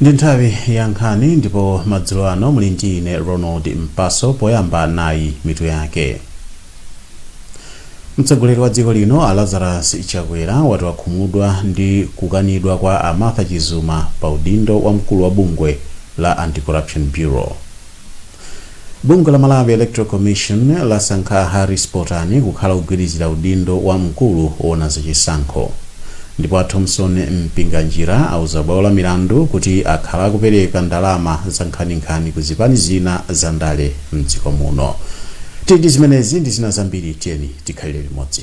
ndi nthawi ya nkhani ndipo madzulo ano muli ndi ine ronald mpaso poyamba nayi mitu yake mtsogoleri wa dziko lino a lazarus chakwera wati wakhumudwa ndi kukanidwa kwa a martha chizuma pa udindo wa mkulu wa bungwe la anti-corruption bureau bungwe la malawi electoral commission lasankha a harris potani kukhala wogwirizira udindo wa mkulu woona zachisankho ndipo a thomson mpinganjira auza bwalo la milandu kuti akhala akupereka ndalama zankhaninkhani ku zipani zina za ndale mdziko muno tili ndi zimenezi ndi zina zambiri tiyeni tikhalire limodzi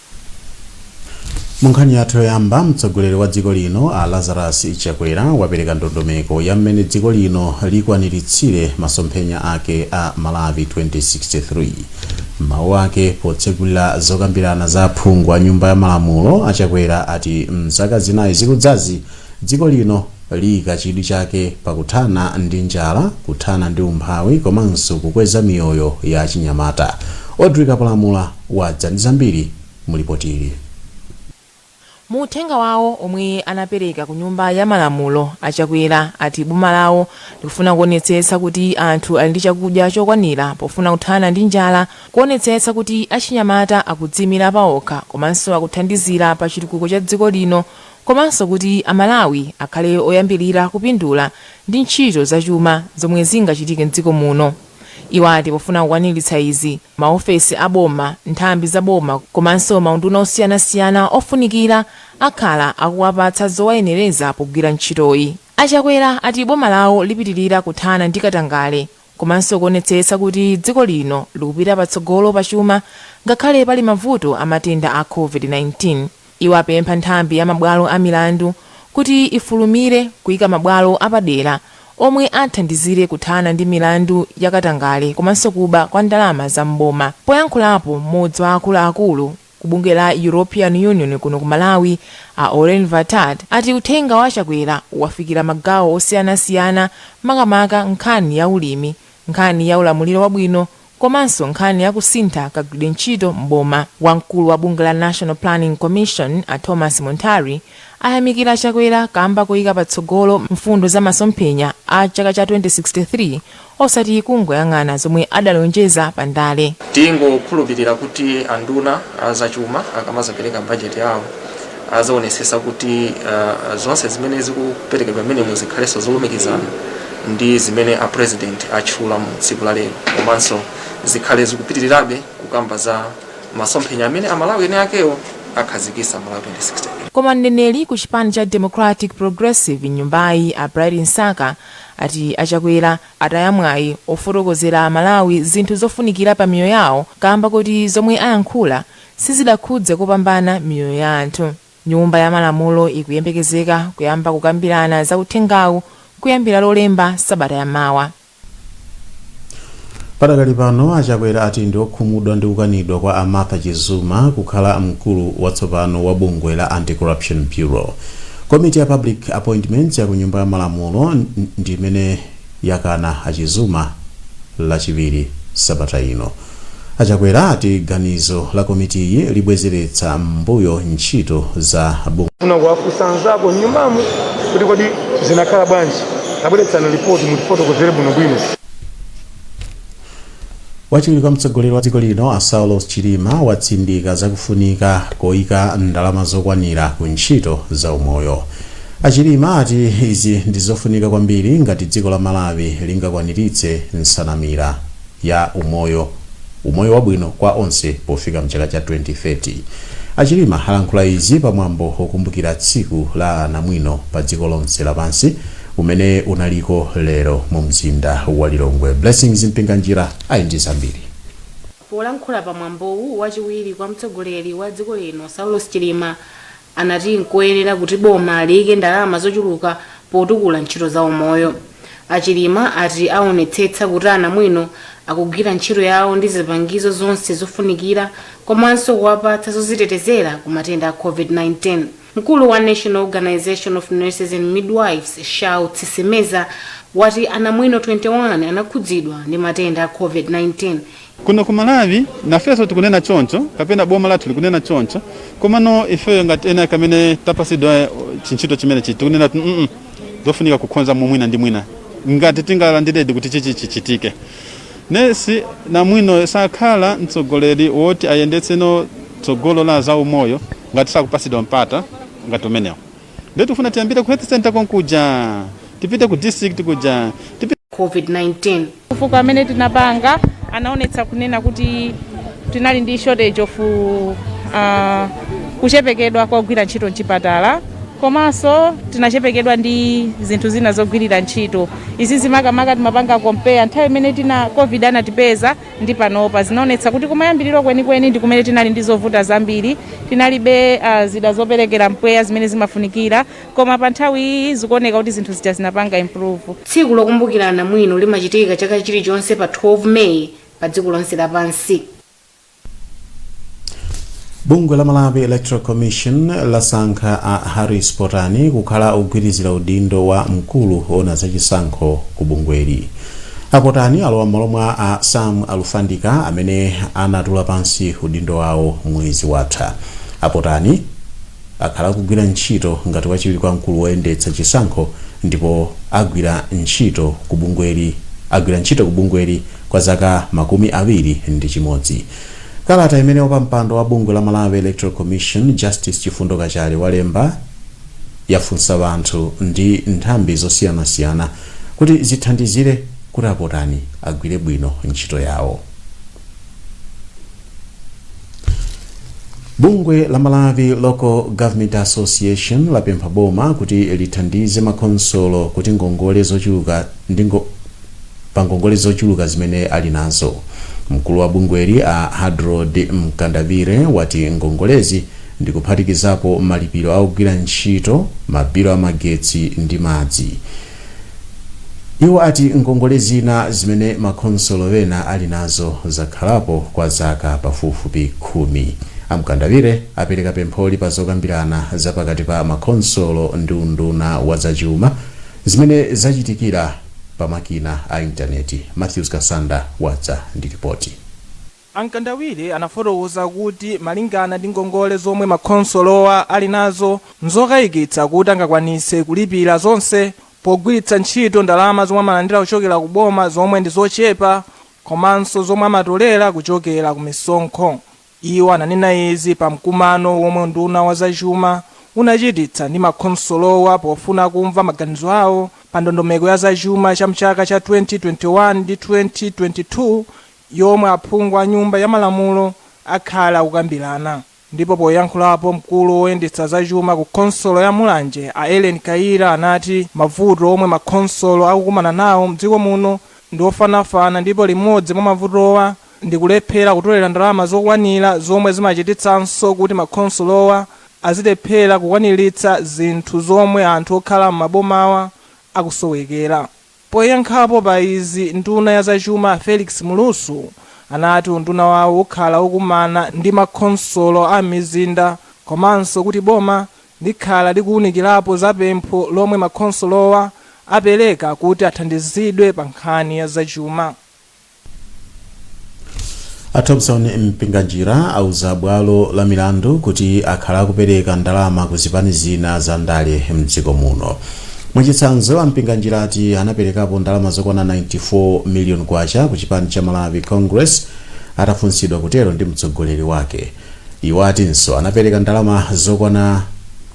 Munkhani yathu yoyamba, mtsogoleri wa dziko lino a Lazarus Chakwera wapereka ndondomeko ya mmene dziko lino likwaniritsire masomphenya ake a Malawi 2063. M'mawu ake potsegulira zokambirana za aphungu a Nyumba ya Malamulo, a Chakwera ati m'zaka zinayi zikudzazi, dziko lino liika chidwi chake pa kuthana ndi njala, kuthana ndi umphawi komanso kukweza miyoyo ya achinyamata. Audrey Kapalamula wadza ndi zambiri mu lipotili. Mu uthenga wawo omwe anapereka ku nyumba ya malamulo, a Chakwera ati boma lawo likufuna kuonetsetsa kuti anthu ali ndi chakudya chokwanira pofuna kuthana ndi njala, kuonetsetsa kuti achinyamata akudziimira paokha komanso akuthandizira pa chitukuko cha dziko lino komanso kuti a Malawi akhale oyambilira kupindula ndi ntchito za chuma zomwe zingachitike m'dziko muno. Iwo ati pofuna kukwanilitsa izi, Maofesi a boma, nthambi za boma komanso maunduna osiyanasiyana ofunikira akhala akuwapatsa zowayenereza pogwira ntchitoyi. A Chakwera ati boma lawo lipitilira kuthana ndi katangale komanso kuonetsetsa kuti dziko lino likupita patsogolo pachuma ngakhale pali mavuto a matenda a Covid-19. Iwo apempha nthambi ya mabwalo a milandu kuti ifulumire kuika mabwalo apadera omwe athandizire kuthana ndi milandu ya katangale komanso kuba kwa ndalama za m'boma. Poyankhulapo, m'modzi wa akulu akulu Ku bungwe la European Union kuno Ku Malawi a Aurelie Valtat ati uthenga wa Chakwera wafikira magawo osiyanasiyana makamaka nkhani ya ulimi, nkhani ya ulamuliro wabwino komanso nkhani ya kusintha kagwiridwe ntchito m'boma. Wamkulu wa bungwe la National Planning Commission, a Thomas Munthali, ayamikira a Chakwera kamba koyika patsogolo mfundo za masomphenya a chaka cha 2063 osati kungoyang'ana zomwe adalonjeza pa ndale. Tingokhulupilira kuti anduna a zachuma akamazapereka budget yawo azaonesesa kuti zonse zimene zikuperekedwa mmenemo zikhalenso zolumikizana ndi zimene a president atchula mu tsiku la lero komanso zikhale zikupitirirabe kukamba za masomphenya amene amalawi ene akewo akhazikisa malawi 2063 koma mneneri ku chipani cha democratic progressive mnyumbayi a bright msaka ati achakwera ataya mwayi ofotokozera amalawi zinthu zofunikira pa miyoyo yawo kamba kuti zomwe ayankhula sizidakhudze kopambana miyoyo ya anthu. Nyumba ya Malamulo ikuyembekezeka kuyamba kukambirana za uthengawu kuyambira Lolemba sabata ya mawa. Padakali pano, a Chakwera ati ndi okhumudwa ndi kukanidwa kwa a Martha Chizuma kukhala mkulu watsopano wa bungwe la Anti-Corruption Bureau. Komiti ya Public Appointments ya ku Nyumba ya Malamulo ndi imene yakana a Chizuma Lachiwiri sabata ino. A Chakwera ati ganizo la komitiyi libwezeretsa m'mbuyo ntchito za bungwe. Tikufuna kuwafunsa anzako m'nyumbamo kuti kodi zinakhala bwanji? Tabweretsani lipoti mutifotokozere bwinobwino. Wachiwiri kwa mtsogoleri wa dziko lino a Saulos Chilima watsindika za kufunika koyika ndalama zokwanira ku ntchito za umoyo. A Chilima ati izi ndi zofunika kwambiri ngati dziko la Malawi lingakwaniritse nsanamira. ya umoyo umoyo wabwino kwa onse pofika mchaka cha 2030. A Chilima alankhula izi pa mwambo okumbukira tsiku la anamwino pa dziko lonse lapansi umene unaliko lero mu mzinda wa Lilongwe. Blessings Mpinganjira ali ndi zambiri. Polankhula pa mwambowu, wachiwiri kwa mtsogoleri wa dziko lino Saulos Chilima anati nkoyenera kuti boma liike ndalama zochuluka potukula ntchito za umoyo. A Chilima ati aonetsetsa kuti anamwino akugwira ntchito yawo ndi zipangizo zonse zofunikira komanso kuwapatsa zozitetezera ku matenda a Covid-19. Mkulu wa National Organisation of Nurses and Midwives, Shouts Simeza, wati anamwino 21 anakhudzidwa ndi matenda a Covid-19 Kuno ku Malawi nafenso tikunena choncho kapena boma lathu likunena choncho, komano ifeyo ngati Nonm amene tapasidwa chintchito chimenechi tikunena kuti mm zofunika kukhonza mwina ndi mwina ngati tingalandiredi kuti chichi chichitike. Nesi namwinoyo sakhala mtsogoleri woti ayendetseno tsogolo la zaumoyo ngati sakupasidwa mpata ngati umenewo. Ndiye tifuna tiyambire ku health center konkuja. Tipite ku district kuja. Tipite COVID-19. Kafukufuku amene tinapanga unaonetsa kunena kuti tinali ndi shortage of ah, kuchepekedwa kwa ogwira ntchito mchipatala komanso tinachepekedwa ndi zinthu zina zogwirira ntchito izizi makamaka timapanga compare nthawi imene tina covid anatipeza ndi panopa. Zinaonetsa kuti kumayambiriro kwenikweni ndi kumene tinali ndi zovuta zambiri. Tinalibe ah, zida zoperekera mpweya zimene zimafunikira, koma pa nthawiyi zikuoneka kuti zinthu zija zinapanga improve. Tsiku lokumbukira anamwino limachitika chaka chilichonse pa 12 May padziko lonse lapansi. bungwe la malawi electoral commission lasankha a harris potani kukhala ogwirizira udindo wa mkulu woona zachisankho ku bungweli apotani alowa m'malo mwa a sam alfandika amene anatula pansi udindo wawo mwezi watha apotani akhala akugwira ntchito ngati wachiwiri kwa mkulu woyendetsa chisankho ndipo agwira ntchito ku bungweli kwa zaka makumi awiri ndi chimodzi. Kalata imene wapampando wa bungwe la Malawi Electoral Commission Justice Chifundo Kachale walemba yafunsa wanthu ndi nthambi zosiyanasiyana kuti zithandizire kuti apotani agwire bwino ntchito yawo. bungwe la malawi local government association lapempha boma kuti lithandize makhonsolo kuti ngongole zochuluka ndi ngo- pa ngongole zochuluka zimene ali nazo mkulu wa bungweli a hadrod mkandawire wati ngongolezi ndikuphatikizapo malipiro a ogwira ntchito mabilu a magetsi ndi madzi Iwo ati ngongole zina zimene makhonsolo ena ali nazo zakhalapo kwa zaka pafupifupi khumi. A Mkandawire apereka pempholi pa zokambirana za pakati pa makhonsolo ndi unduna wa za chuma zimene zachitikira pa makina a intaneti. Mathews Kasanda wadza ndi lipoti. A Mkandawire anafotokoza kuti malingana ndi ngongole zomwe makhonsolowa ali nazo, nzokayikitsa kuti angakwanitse kulipira zonse pogwiritsa ntchito ndalama zomwe amalandira kuchokera ku boma zomwe ndi zochepa komanso zomwe amatolera kuchokera ku misonkho. Iwo ananena izi pa mkumano womwe unduna wa za chuma unachititsa ndi makhonsolowa pofuna kumva maganizo awo pa ndondomeko ya za chuma cha mchaka cha 2021 ndi 2022 yomwe aphungu a Nyumba ya Malamulo akhale akukambirana ndipo poyankhulapo mkulu woyendetsa za chuma ku khonsolo ya Mulanje a Ellen Kayira anati mavuto omwe makhonsolo akukumana nawo mdziko muno ndi ofanafana ndipo limodzi mwa mavutowa ndi kulephera kutolera ndalama zokwanira zomwe zimachititsanso kuti makhonsolowa azilephera kukwaniritsa zinthu zomwe anthu okhala m'mabomawa akusowekera. Poyankhapo pa izi nduna ya zachuma Felix Mlusu anati unduna wawo ukhala ukukumana ndi makhonsolo a m'mizinda komanso kuti boma likhala likuwunikirapo za pempho lomwe makhonsolowa apereka kuti athandizidwe pa nkhani ya zachuma. A Thomson Mpinganjira auza bwalo la milandu kuti akhala akupereka ndalama ku zipani zina za ndale mdziko muno. Mwachitsanzo, a Mpinganjira ati anaperekapo ndalama zokwana 94 million kwacha ku chipani cha Malawi Congress atafunsidwa kutero ndi mtsogoleri wake. Iwo atinso anapeleka ndalama zokwana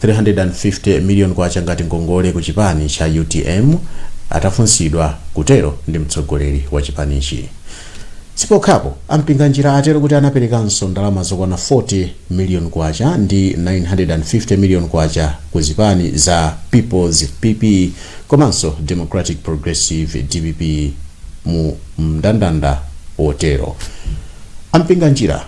350 million kwacha ngati ngongole ku chipani cha utm atafunsidwa kutelo ndi mtsogoleri wa chipanichi. Sipokhapo, a Mpinganjira atelo kuti anapelekanso ndalama zokwana 40 million kwacha ndi 950 million kwacha ku zipani za People's, PP, komanso Democratic Progressive, dpp, mu mndandanda wotelo. A Mpinganjira.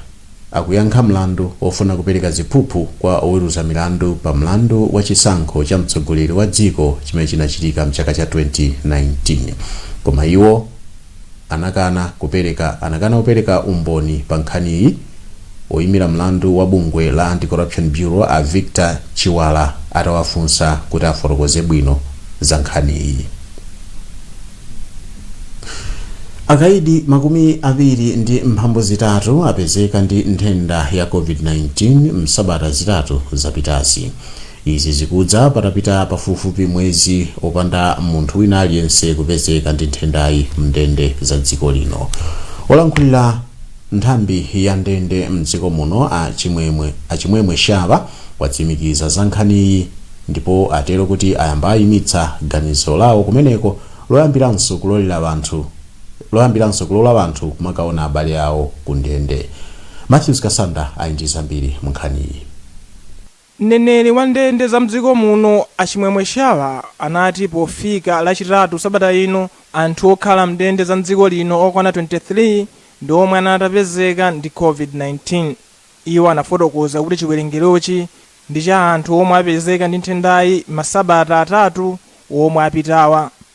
akuyankha mlandu wofuna kupereka ziphuphu kwa oweruza milandu pa mlandu wa chisankho cha mtsogoleri wa dziko chimene chinachitika m'chaka cha 2019. Koma iwo anakana kupereka umboni pa nkhaniyi. Woimira mlandu wa bungwe la Anti-Corruption Bureau a Victor Chiwala atawafunsa kuti afotokoze bwino za nkhaniyi. akaidi makumi awiri ndi mphambu zitatu apezeka ndi nthenda ya covid-19 msabata zitatu zapitazi izi zikudza patapita pafupifupi mwezi opanda munthu wina aliyense kupezeka ndi nthendayi mndende za dziko lino olankhulira Nthambi ya ndende mdziko muno a Chimwemwe Shaba watsimikiza za nkhaniyi ndipo atero kuti ayamba ayimitsa ganizo lawo kumeneko loyambiranso kulola anthu kumakaona abale awo ku ndende. Mathews Kasanda ali ndi zambiri mu nkhaniyi. Mneneri wa ndende za mdziko muno a Chimwemwe Shaba anati pofika lachitatu sabata ino, anthu okhala mndende za mdziko lino okwana 23 ndi omwe anali atapezeka ndi Covid-19. Iwo anafotokoza kuti chiwerengerochi ndi cha anthu omwe apezeka ndi nthendayi masabata atatu omwe apitawa.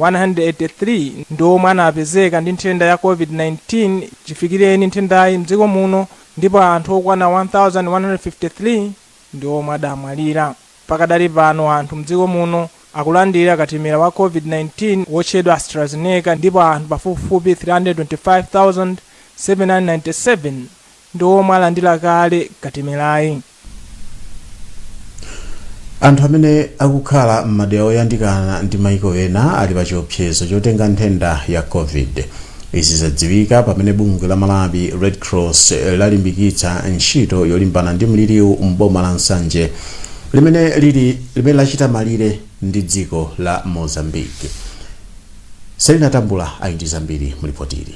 183 ndi omwe anapezeka ndi nthenda ya Covid-19 chifikireni nthendayi mdziko muno ndipo anthu okwana 1,153 ndi omwe adamwalira. Pakadali pano anthu mdziko muno akulandira katemera wa Covid-19 wotchedwa AstraZeneca ndipo anthu pafupifupi 325,797 ndi omwe alandira kale katemerayi. anthu amene akukhala m'madera oyandikana ndi maiko ena ali pa chiopsezo chotenga nthenda ya covid izi zadziwika pamene bungwe la malawi red cross lalimbikitsa ntchito yolimbana ndi mliriwu m'boma la nsanje limene lachita malire ndi dziko la mozambique selina tambula ali ndi zambiri mulipotili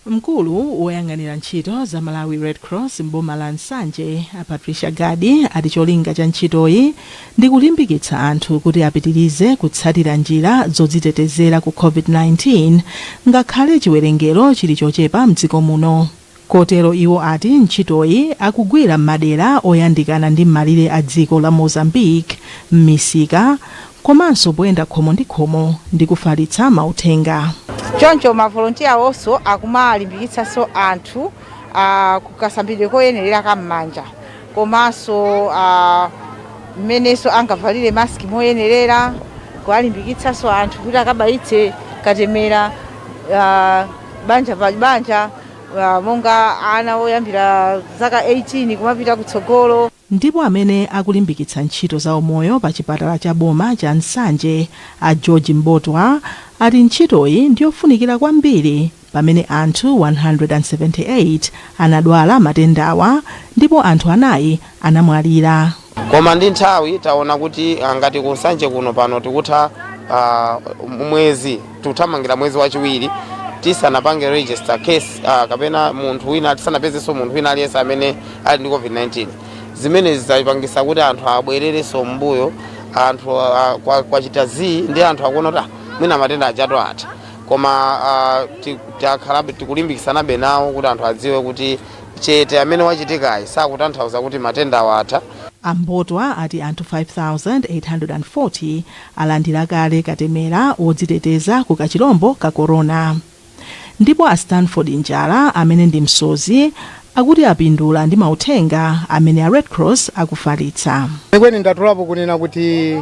Mkulu woyang'anira ntchito za Malawi Red Cross m'boma la Nsanje, a Patricia Gadi, ati cholinga cha ntchitoyi ndi kulimbikitsa anthu kuti apitirize kutsatira njira zodzitetezera ku COVID-19 ngakhale chiwerengero chili chochepa m'dziko muno. Kotero iwo ati ntchitoyi akugwira m'madera oyandikana ndi m'malire a dziko la Mozambique, m'misika, komanso poyenda khomo ndi khomo ndi kufalitsa mauthenga. Choncho ma volontiya onse akumalimbikitsanso anthu a ku kasambidwe koyenerera ka m'manja komanso a mmenenso angavalire mask moyenerera, kuwalimbikitsanso anthu kuti akabayitse katemera banja pa banja a monga ana oyambira zaka 18 kumapita kutsogolo. Ndipo amene akulimbikitsa ntchito za umoyo pa chipatala cha boma cha Nsanje a George Mbotwa ati ntchitoyi ndiyofunikira kwambiri pamene anthu 178 anadwala matendawa ndipo anthu anayi anamwalira. Koma ndi nthawi taona kuti ngati ku Nsanje kuno pano tikutha mwezi. tikuthamangira mwezi wachiwiri tisanapange register case uh, kapena munthu wina tisanapezenso munthu wina aliyense amene ali ndi covid-19 zimene zizapangisa kuti anthu abwererenso mbuyo anthu uh, kwa, kwa chita zii ndi anthu akuona kuti ah, mwina matenda aja atha koma uh, ti- takhalabe tikulimbikisanabe nawo kuti anthu adziwe kuti chete amene wachitikayi sakutanthauza kuti matenda awa atha a mbotwa ati anthu 5840 alandira kale katemera wodziteteza ku kachilombo ka corona ndipo a Stanford Njala amene ndi msodzi akuti apindula ndi mauthenga amene a Red Cross akufalitsa. Kwenikweni ndatolapo kunena kuti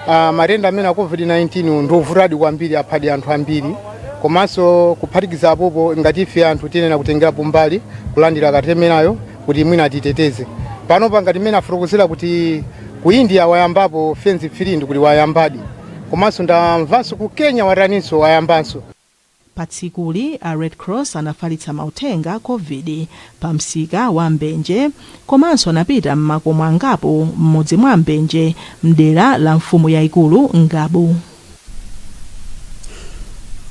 ah, matenda amenewa a COVID-19 ndi ovutadi kwambiri aphadi anthu ambiri komanso kuphatikiza apopo ngati ife anthu tiyenera kutengerapo mbali kulandira katemerayo kuti mwina atiteteze panopa ngati mmene afotokozera kuti ku india wayambapo phase three ndi kuti wayambadi komanso ndamvanso ku kenya wataninso wayambanso Patsikuli, a Red Cross anafalitsa mauthenga a Covid pa msika wa Mbenje komanso anapita m'makomo angapo m'mudzi mwa Mbenje m'dera la mfumu yaikulu Ngabu.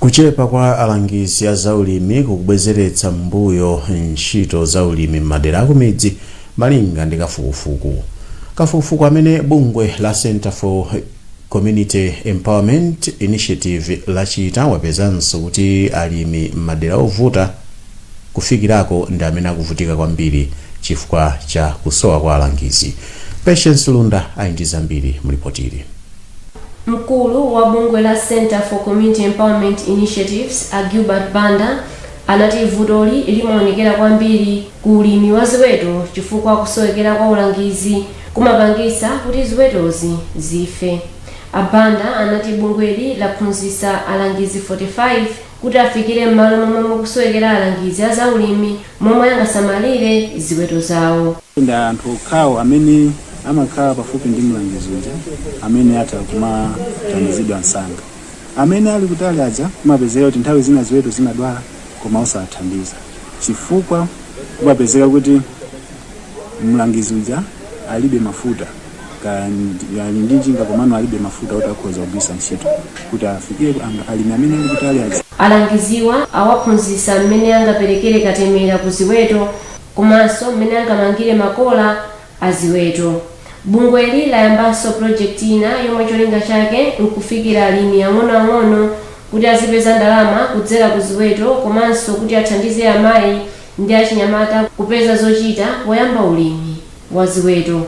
Kuchepa kwa alangizi a zaulimi kukubwezeretsa m'mbuyo ntchito za ulimi m'madera akumidzi malinga ndi kafukufuku. Kafukufuku amene bungwe la Centre for Community Empowerment Initiative lachita wapezanso kuti alimi m'madera ovuta kufikirako ndi amene akuvutika kwambiri chifukwa cha kusowa kwa alangizi. Patience Lunda ali ndi zambiri mu lipotili. Mkulu wa bungwe la Centre for Community Empowerment Initiatives, a Gilbert Banda, anati vutoli limaonekera kwambiri ku ulimi wa ziweto chifukwa kusowekera kwa ulangizi kumapangitsa kuti ziwetozi zife. A Banda anati bungweli laphunzitsa alangizi 45 kuti afikire m'malo momwe mukusowekera alangizi a zaulimi momwe angasamalire ziweto zawo. Nde anthu okhawo amene amakhala pafupi ndi mlangizi uja amene atha kumathandizidwa msanga. Amene ali kutali aja kumapezeka kuti nthawi zina ziweto zimadwala koma osawathandiza chifukwa kumapezeka kuti mlangizi uja alibe mafuta. kaya ndi- ali ndi njinga komano alibe mafuta oti akhoza kugwiritsa ntchito kuti afikire ang- alimi amene ali kutali aja. Alangiziwa awaphunzitsa mmene angaperekere katemera ku ziweto komanso mmene angamangire makola a ziweto. Bungweli layambanso pulojekiti ina yomwe cholinga chake n'kufikira alimi ang'onoang'ono kuti azipeza ndalama kudzera ku ziweto komanso kuti athandize amayi ndi achinyamata kupeza zochita poyamba ulimi. wa ziweto.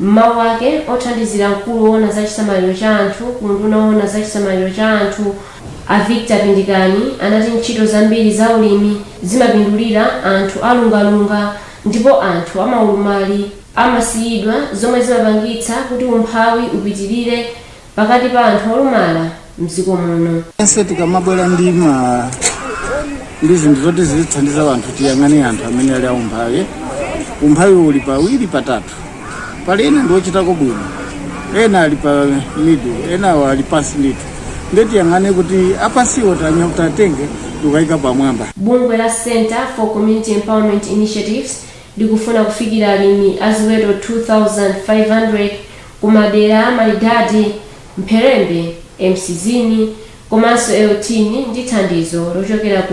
M'mawu ake, othandizira mkulu woona za chisamaliro cha anthu ku unduna woona za chisamaliro cha anthu, a Victor Pindikani anati ntchito zambiri za ulimi zimapindulira anthu a lungalunga ndipo anthu a maulumali amasiyidwa zomwe zimapangitsa kuti umphawi upitilire pakati pa anthu olumala mdziko muno. Tonse tikamabwera ndi ma ndi zinthu zoti zizithandiza anthu tiyang'ane anthu amene ali aumphawi. Umphawi uli pawiri patatu, pali ena ndi ochitako bwino, ena ali pa middle, enawo ali pansi ndithu. Nde tiyang'ane kuti apansiwo tanya- tiwatenge tikayike pamwamba. Bungwe la Centre for Community Empowerment Initiatives likufuna kufikira alimi a ziweto 2,500 kumadera a Malidade, Mpherembe, Emcisweni komanso Euthini ndi thandizo lochokera ku